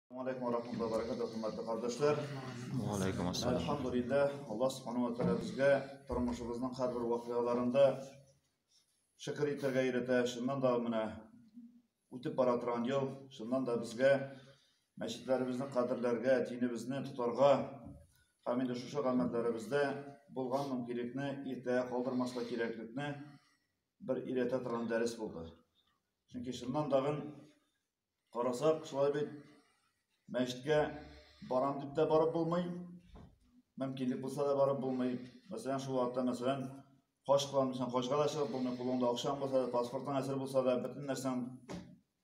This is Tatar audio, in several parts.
Алейкум ва рахматуллахи ва баракатуһ, хөрмәтле кардәшләр. Ва алейкум ассалам. Алхамдулиллах, Аллаһ субханаһу ва тааля безгә тормышыбызның һәрбер вакыйгаларында шөкер итәргә өйрәтә. Шуннан да менә үтеп бара торган ел, шуннан да безгә мәчетләребезне кадерләргә, динебезне тотарга һәм инде шушы гамәлләребездә булган мөмкинлекне иртәгә калдырмаска кирәклекне бер өйрәтә торган дәрес булды. Чөнки шуннан дагын Карасак, шулай бит мәчеткә барам дип тә барып булмый, мөмкинлек булса да барып булмый. Мәсәлән, шул вакытта, мәсәлән, хаҗ кылам дисәң, хаҗга да чыгып булмый, кулыңда акчаң булса да, паспортың әзер булса да, бөтен нәрсәң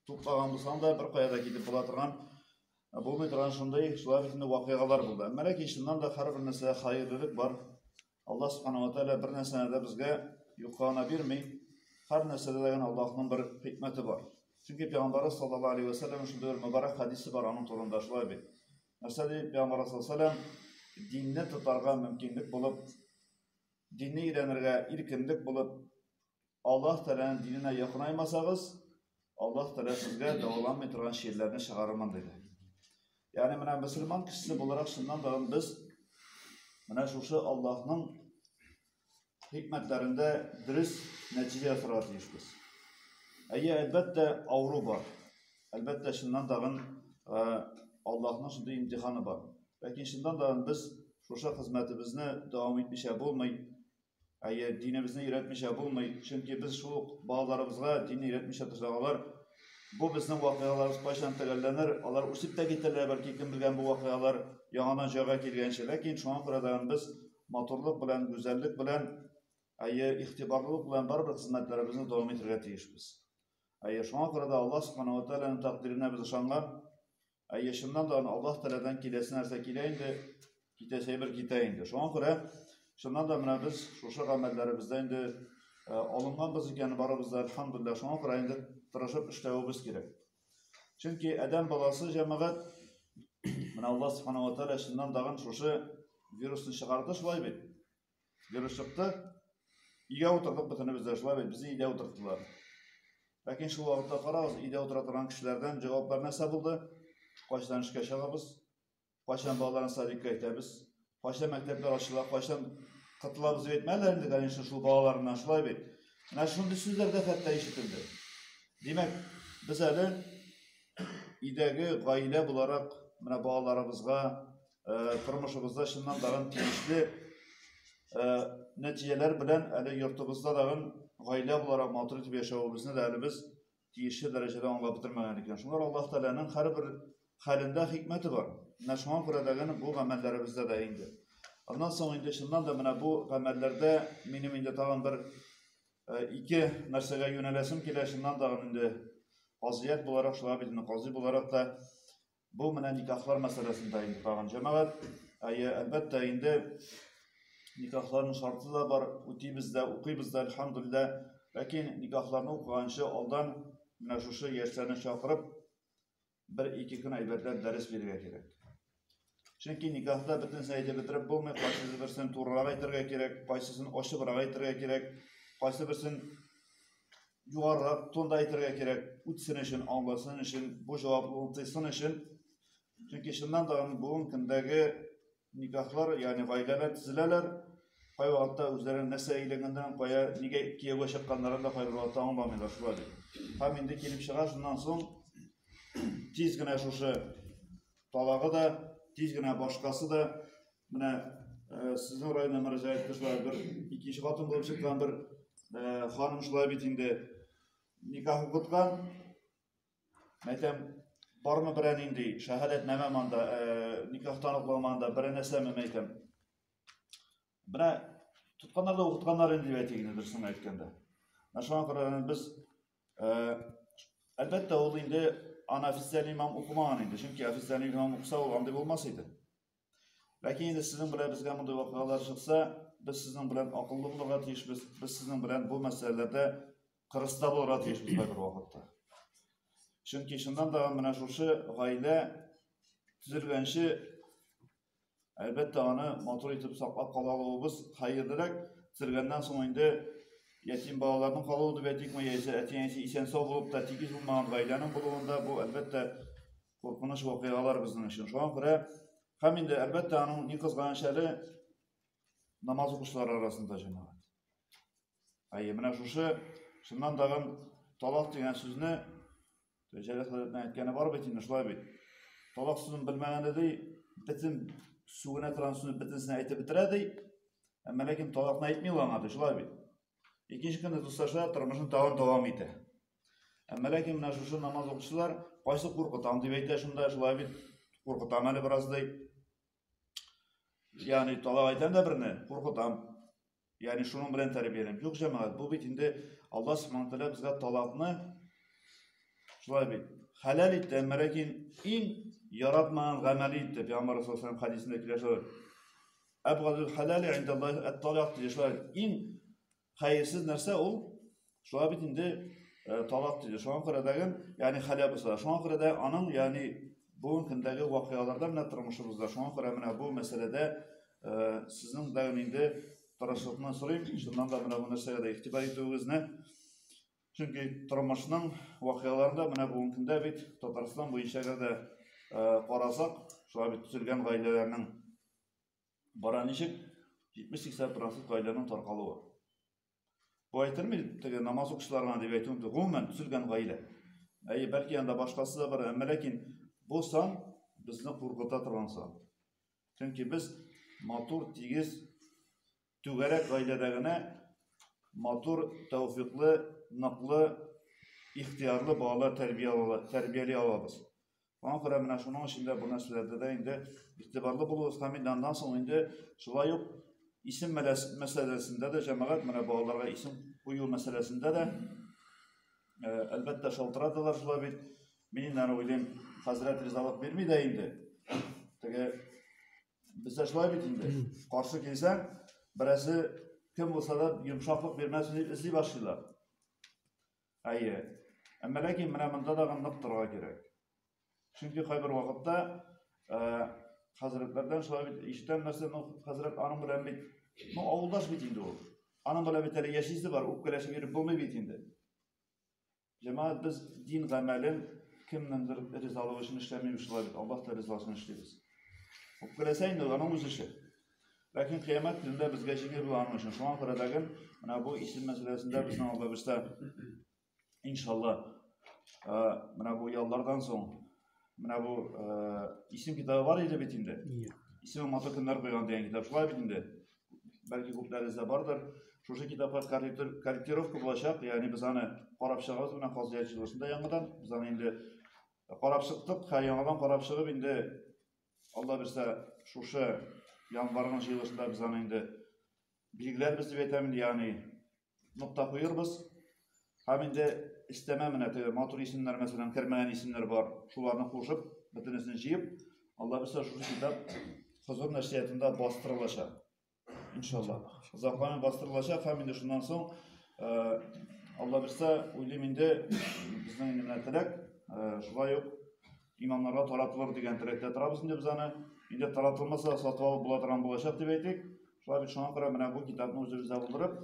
туплаган булсаң да, бер кая да китеп була торган, ә булмый торган шундый, шулай бит инде вакыйгалар булды. Әмма ләкин чыннан да һәрбер нәрсәдә хәерлелек бар. Аллаһ Субхану ва Тәгалә бер нәрсәне дә безгә юклагына бирми. Һәр нәрсәдә дә Аллаһның бер хикмәте бар. Чөнки Пәйгамбәр саллаллаһу алейһи ва сәлләм шундый бер мөбарәк хадисе бар аның турында шулай бит. Нәрсә ди Пәйгамбәр саллаллаһу алейһи ва сәлләм динне тотарга мөмкинлек булып, динне өйрәнергә иркенлек булып, Аллаһ Тәгаләнең диненә якынаймасагыз, Аллаһ Тәгалә сезгә дәваланмый торган чирләрне чыгарырмын диде. Ягъни менә мөселман кешесе буларак шуннан да без менә шушы Аллаһның хикмәтләрендә дөрес нәтиҗә ясарга тиешбез. Әйе, әлбәттә, авыру бар. Әлбәттә, шуннан тагын Аллаһның шундый имтиханы бар. Ләкин шуннан тагын без шушы хезмәтебезне дәвам итмичә булмый, Әйе, динебезне өйрәтмичә булмый, чөнки без шул ук балаларыбызга динне өйрәтмичә торсак алар, бу безнең вакыйгаларыбыз кайчан төгәлләнер, алар үсеп тә китәрләр, бәлки кем белгән бу вакыйгалар яңадан җайга килгәнче. Ләкин шуңа күрә дә без матурлык белән, гүзәллек белән, әйе, игътибарлылык белән барыбер хезмәтләребезне дәвам итәргә тиешбез. Әйе, шуңа күрә дә Аллаһ Субхана ва Тәгаләнең тәкъдиренә без ышанган. Әйе, чыннан да аны Аллаһ Тәгаләдән киләсе нәрсә килә инде, китәсе әйбер китә инде. Шуңа күрә чыннан да менә без шушы гамәлләребездә инде э, алынганбыз икән, барыбыз да альхамдулилла, шуңа күрә инде тырышып эшләвебез кирәк. Чөнки адәм баласы җәмәгать менә Аллаһ Субхану ва Тәгалә чыннан да шушы вирусны чыгарды шулай бит. Дөрес чыкты. Өйгә утырдык бөтенебез дә шулай бит, безне өйдә утырттылар. Ләкин шул вакытта карагыз, өйдә утыра торган кешеләрдән җаваплар нәрсә булды? Кайчан эшкә чыгабыз? Кайчан балаларны садикка әйтәбез? Кайчан мәктәпләр ачыла? Кайчан кытылабыз дип әйтмәделәр инде, конечно, шул балаларына шулай бит. Менә шундый сүзләр дә хәтта ишетелде. Димәк, без әле өйдәге гаилә буларак, менә балаларыбызга, э, тормышыбызда чыннан тагын тиешле э, нәтиҗәләр белән әле йортыбызда тагын гаилә буларак матур итеп яшәвебезне дә әле без тиешле дәрәҗәдә аңлап бетермәгән икән. Шуңа Аллаһ Тәгаләнең һәрбер хәлендә хикмәте бар. Менә шуңа күрә дә генә бу гамәлләребездә дә инде. Аннан соң инде чыннан да менә бу гамәлләрдә минем инде тагын бер э, ике нәрсәгә юнәләсем килә, чыннан да инде казият буларак шулай бит, кази буларак та Бу менә никахлар мәсьәләсендә инде тагын җәмәгать. Әйе, әлбәттә инде никахларның шарты да бар, үтибез дә, укыйбыз да, әлхәмдулилла. Ләкин никахларны укыганчы алдан менә шушы яшьләрне чакырып, бер-ике көн әйбәтләп дәрес бирергә кирәк. Чөнки никахта бөтенесен әйтеп бетереп булмый, кайсысы берсен турырак әйтергә кирәк, кайсысын ачыбрак әйтергә кирәк, кайсы берсен югарырак тонда әйтергә кирәк, үтсен өчен, аңласын өчен, бу җаваплылыгын тыйсын өчен. Чөнки чыннан да бүгенге көндәге никахлар, ягъни гаиләләр төзеләләр. Кай вакытта үзләренең нәрсә әйләнгәннәрен, кая, нигә кияүгә чыкканнарын да кайбер вакытта аңламыйлар шулай дип. Һәм инде килеп чыга шуннан соң тиз генә шушы талагы да, тиз генә башкасы да Менә э, сезнең районда мөрәҗәгать кылучылар бер икенче хатын булып чыккан бер э, ханым шулай бит инде никах укыткан. Мәйтәм, бармы берәр нинди шәһадәтнамә монда, э, никах таныклыгы монда, берәр нәрсәме мәйтәм. Менә тотканнар да укытканнар инде дип әйтик инде дөресен әйткәндә. Менә шуңа күрә без әлбәттә ул инде аны официаль имам укымаган инде, чөнки официаль имам укыса ул андый булмас иде. Ләкин инде сезнең белән безгә мондый вакыйгалар чыкса, без сезнең белән акыллы булырга тиешбез, без сезнең белән бу мәсьәләләрдә кырыста булырга тиешбез бер вакытта. Чөнки шуннан да менә шушы гаилә төзелгәнче әлбәттә аны матур итеп саклап кала алуыбыз хәерлерәк, төзелгәннән соң инде ятим балаларның калуы дип әйтикме, яисә әти-әнисе исән-сау булып та тигез булмаган гаиләнең булуында бу әлбәттә Куркыныч вакыйгалар безнең өчен. Шуңа күрә һәм инде әлбәттә аның ни кызганыч әле намаз укучылар арасында җәмәгать. Әйе, менә шушы шуннан тагын талак дигән сүзне Җәләл хәзрәтнең әйткәне бар бит инде, шулай бит. Талак сүзен белмәгәндә ди, бөтен сүгенә торган сүзне бөтенесен әйтеп бетерә ди. Әмма ләкин талакны әйтми ул аңа ди, шулай бит. Икенче көнне дуслаша тормышын тагын дәвам итә. Әмма ләкин менә шушы намаз укучылар кайсы куркытам дип әйтә шунда, шулай бит куркытам әле бераз ди. Ягъни талак әйтәм дә берне, куркытам. Ягъни шуның белән тәрбияләнеп. Юк, җәмәгать, бу бит инде Аллаһ Субхану тәгалә безгә талакны шулай бит хәләл итте, әмма ләкин иң яратмаган гамәле итте. Пәйгамбәр саллаллаху алейһи хәдисендә килә шулай. Әбгадул хәләле индаллаһи әт-талак диде шулай. Иң Хәерсез нәрсә ул? Шулай бит инде э, талак диде. Шуңа күрә дә, ягъни халәбызда. Шуңа күрә дә аның, ягъни бүгенге көндәге вакыйгаларда менә тормышыбызда. Шуңа күрә менә бу мәсьәләдә э, сезнең дә инде тырышлыкны сорыйм. Шуннан да менә бу нәрсәгә дә игътибар итүегезне. Чөнки тормышның вакыйгаларында менә бүгенге көндә бит Татарстан буенча да э, карасак, шулай бит төзелгән гаиләләрнең Бара ничек? 70-80 процент гаиләнең таркалуы. Бу әйтелми, теге намаз укучыларына дип әйтү мөмкин. Гомумән төзелгән гаилә. Әйе, бәлки анда башкасы да бар, әмма ләкин бу сан безне куркыта торган сан. Чөнки без матур, тигез, Түгәрәк гаиләдә генә матур, тәүфиклы, ныклы, ихтыярлы балалар тәрбияли алабыз. Аңа күрә менә шуның өчен дә бу нәрсәләрдә дә инде игътибарлы булуыбыз һәм инде аннан соң инде шулай ук исем мәсьәләсендә дә җәмәгать менә балаларга исем кую мәсьәләсендә дә әлбәттә шалтыраталар шулай бит. Мин инде аны уйлыйм, хәзрәт ризалык бирми дә инде. Теге Бездә шулай бит инде. Каршы килсәң, берәсе кем булса да йомшаклык бирмәсен дип эзли башлыйлар. Әйе. Әмма ләкин менә монда да нык торырга кирәк. Чөнки кайбер вакытта э, хәзрәтләрдән шулай бит ишетәм нәрсә, ну хәзрәт аның белән бит, ну авылдаш бит инде ул. Аның белән бит әле яшисе бар, үпкәләшеп йөреп булмый бит инде. Җәмәгать без дин гамәлен кемнеңдер ризалыгы өчен эшләмибез шулай бит, Аллаһ та ризасын эшлибез. Үпкәләсә инде аның үз эше. Ләкин кыямәт көндә безгә җиңел була аның өчен. Шуңа күрә дәген менә бу исем мәсьәләсендә безнең алда бишта иншалла менә бу яллардан соң Менә бу исем китабы бар иде бит инде. Исеме матур көннәр куйган дигән китап шулай бит инде. Бәлки күпләрегездә бардыр. Шушы китапка корректировка булачак, ягъни без аны карап чыгабыз менә Казыят җылысында яңадан. Без аны инде карап чыктык, һәм яңадан карап чыгып инде Алла бирсә, шушы январның җылысында без аны инде билгеләрбез дип әйтәм, ягъни нокта куербыз. Һәм инде истәмә менә теге матур исемнәр мәсәлән кермәгән исемнәр бар. Шуларны кушып, бөтенесен җыеп, Алла бирсә шушы китап хозур нәшриятында бастырылачак. Иншалла. Озакламый бастырылачак һәм инде шуннан соң э, Алла бирсә уйлыйм инде безнең инде менә теләк э, шулай ук имамнарга таратылыр дигән теләктә торабыз инде без аны. Инде таратылмаса сатып алып була торган булачак дип әйтик. Шулай бит, шуңа күрә менә бу китапны үзебездә булдырып,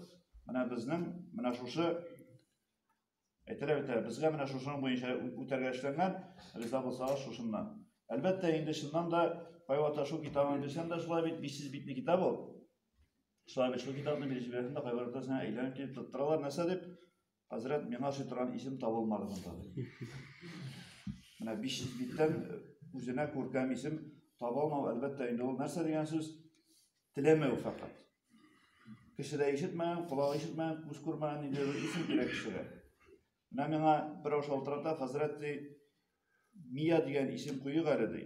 менә безнең менә шушы әйтәләр бит, безгә менә шушының буенча үтәргә эшләнгән, риза булсагыз шушыннан. Әлбәттә, инде чыннан да кайвакыт шул китабын бирсәм дә шулай бит, бишсез битле китап ул. Шулай бит, шул китапны бирүчеләрдән дә кайбер ортасына әйләнеп килеп тоттыралар, нәрсә дип? Хәзрәт, миңа ошый торган исем табылмады монда. Менә 500 биттән үзенә күркәм исем таба алмау, әлбәттә, инде ул нәрсә дигән сүз? Теләмәү фәкать. Кеше дә ишетмәгән, колак ишетмәгән, күз күрмәгән инде бер исем кирәк кешегә. Менә миңа берәү шалтырата, хәзрәт ди, Мия дигән исем куйык әле ди.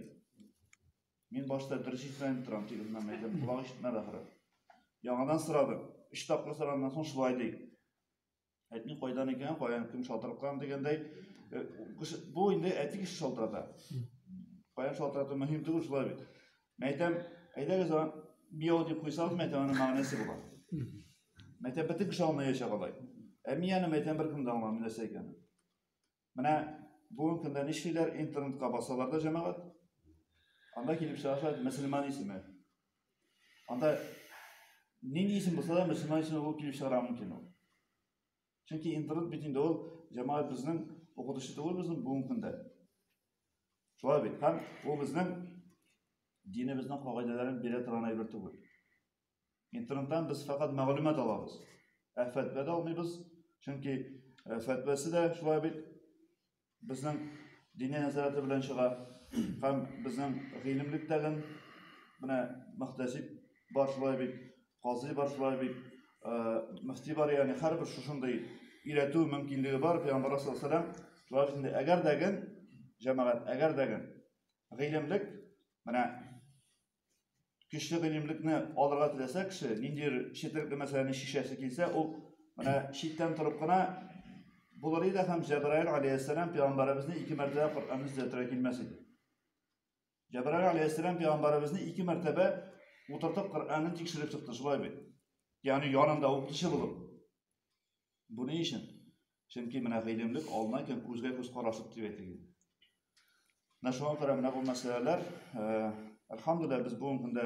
Мин башта дөрес ишетмәдем торам, тик мына мәйдән колак ишетмәде ахры. Яңадан сорадым. Өч тапкыр сораннан соң шулай ди. Әтне кайдан икән, каян кем шалтыраткан дигәндәй, э, бу инде әти кеше шалтырата. Каян шалтырату мөһим түгел шулай бит. Мин әйтәм, әйдәгез аны бияү дип куйсагыз, мәйтәм аның мәгънәсе була. Мәйтәм бөтен кеше аңлаячак алай. Ә мин аны мәйтәм беркем дә аңламый нәрсә икәнен. Менә бүгенге көндә нишлиләр, интернетка басалар да җәмәгать. Анда килеп чыга шулай мөселман исеме. Анда нинди исем булса да мөселман исеме булып килеп чыгара мөмкин ул. Чөнки интернет бит инде ул җәмәгать безнең укытучы түгел безнең бүгенге көндә. Шулай бит. Һәм ул безнең динебезнең кагыйдәләрен бирә торган әйбер түгел. Интернеттан без фәкать мәгълүмат алабыз. Ә фәтвә дә алмыйбыз, чөнки э, фәтвәсе дә шулай бит безнең дини нәзарәте белән чыга һәм безнең гыйлемлектәген менә мөхтәсиб бар шулай бит, казый бар шулай бит, э, мөфти бар, ягъни һәрбер шушындый өйрәтү мөмкинлеге бар пәйгамбәр саллаллаху алейһи шулай бит инде әгәр дәген җәмәгать әгәр дәген гыйлемлек менә көчле гыйлемлекне алырга теләсә кеше, ниндидер четерекле мәсьәләне шишәсе килсә, ул менә читтән торып кына булыр иде һәм Җәбраил алейһиссәлам пәйгамбәребезне ике мәртәбә Коръәнне төзәтергә килмәс иде. Җәбраил алейһиссәлам пәйгамбәребезне ике мәртәбә утыртып Коръәнне тикшереп чыкты, шулай бит. Ягъни янында укытучы булып. Бу ни өчен? Чөнки менә гыйлемлек алына икән, күзгә күз карашып дип әйтегез. Менә шуңа күрә менә бу мәсьәләләр, әлхәмдүлилләһ, без бүгенге көндә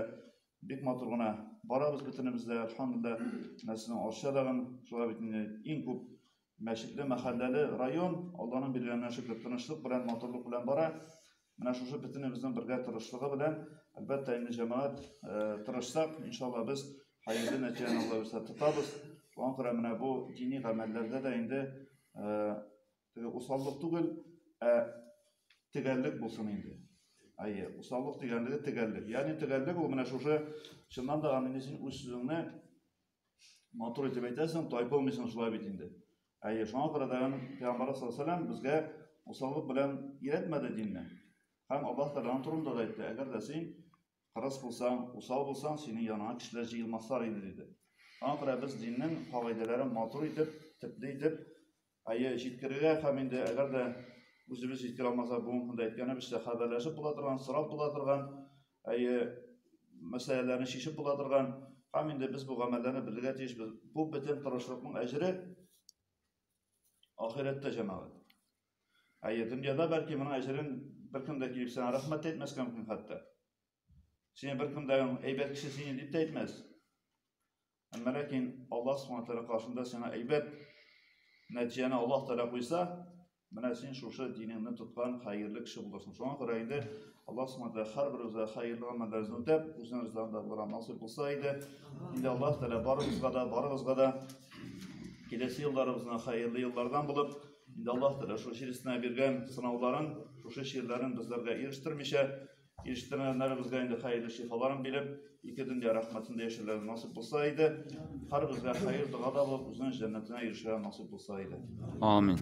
бик матур гына барабыз бөтенебез дә, әлхәмдүлилләһ. Менә сезнең Арча дагын шулай бит инде иң күп мәчетле, мәхәлләле район, Алланың биргәненә шөкер, тынычлык белән, матурлык белән бара. Менә шушы бөтенебезнең бергә тырышлыгы белән, әлбәттә, инде җәмәгать тырышсак, иншалла, без хәерле нәтиҗәне Алла бирсә тотабыз. Шуңа күрә менә бу дини гамәлләрдә дә инде теге усаллык түгел, ә төгәллек булсын инде. Әйе, усаллык дигәнлеге төгәллек. Ягъни төгәллек ул менә шушы чыннан да аны син үз сүзеңне Матур итеп әйтәсең, тайпылмыйсың шулай бит инде. Әйе, шуңа күрә дә Пәйгамбар саллаллаху безгә усаллык белән өйрәтмәде динне. Һәм Аллаһ Тәгаләнең турында да әйтте, әгәр дә син кырыс булсаң, усал булсаң, синең яныңа кешеләр җыелмаслар иде диде. Шуңа күрә без диннең кагыйдәләрен матур итеп, төпле итеп Әйе, җиткерергә һәм инде әгәр дә үзебез җиткерә алмасак, бүгенге көндә әйткәнебезчә, хәбәрләшеп була торган, сорап була торган, әйе, мәсьәләләрне чишеп була торган һәм инде без бу гамәлләрне белергә тиешбез. Бу бөтен тырышлыкның әҗере ахирәттә җәмәгать. Әйе, дөньяда бәлки моның әҗерен беркем дә килеп сиңа рәхмәт әйтмәскә мөмкин хәтта. Сине беркем дә әйбәт кеше сине дип тә әйтмәс. Әмма ләкин Аллаһ Субхану тәгалә каршында сиңа әйбәт нәтиҗәне Аллаһ тәгалә куйса, менә син шушы динеңне тоткан хәерле кеше буласың. Шуңа күрә инде Аллаһ Субхану тәгалә һәрберебезгә хәерле гамәлләрне үтәп, үзенең ризалыгында булырга насыйп булса иде. Инде Аллаһ тәгалә барыбызга да, барыбызга да киләсе елларыбызны хәерле еллардан булып, инде Аллаһ тәгалә шушы җирсенә биргән сынауларын, шушы чирләрен безләргә ирештермичә, Ишеттермәннәребезгә инде хәерле шифаларын биреп, ике дөнья рәхмәтендә яшәрләре насыйп булса иде. Һәрбезгә хәер догада булып, үзенең җәннәтенә ирешергә насыйп булса иде. Амин.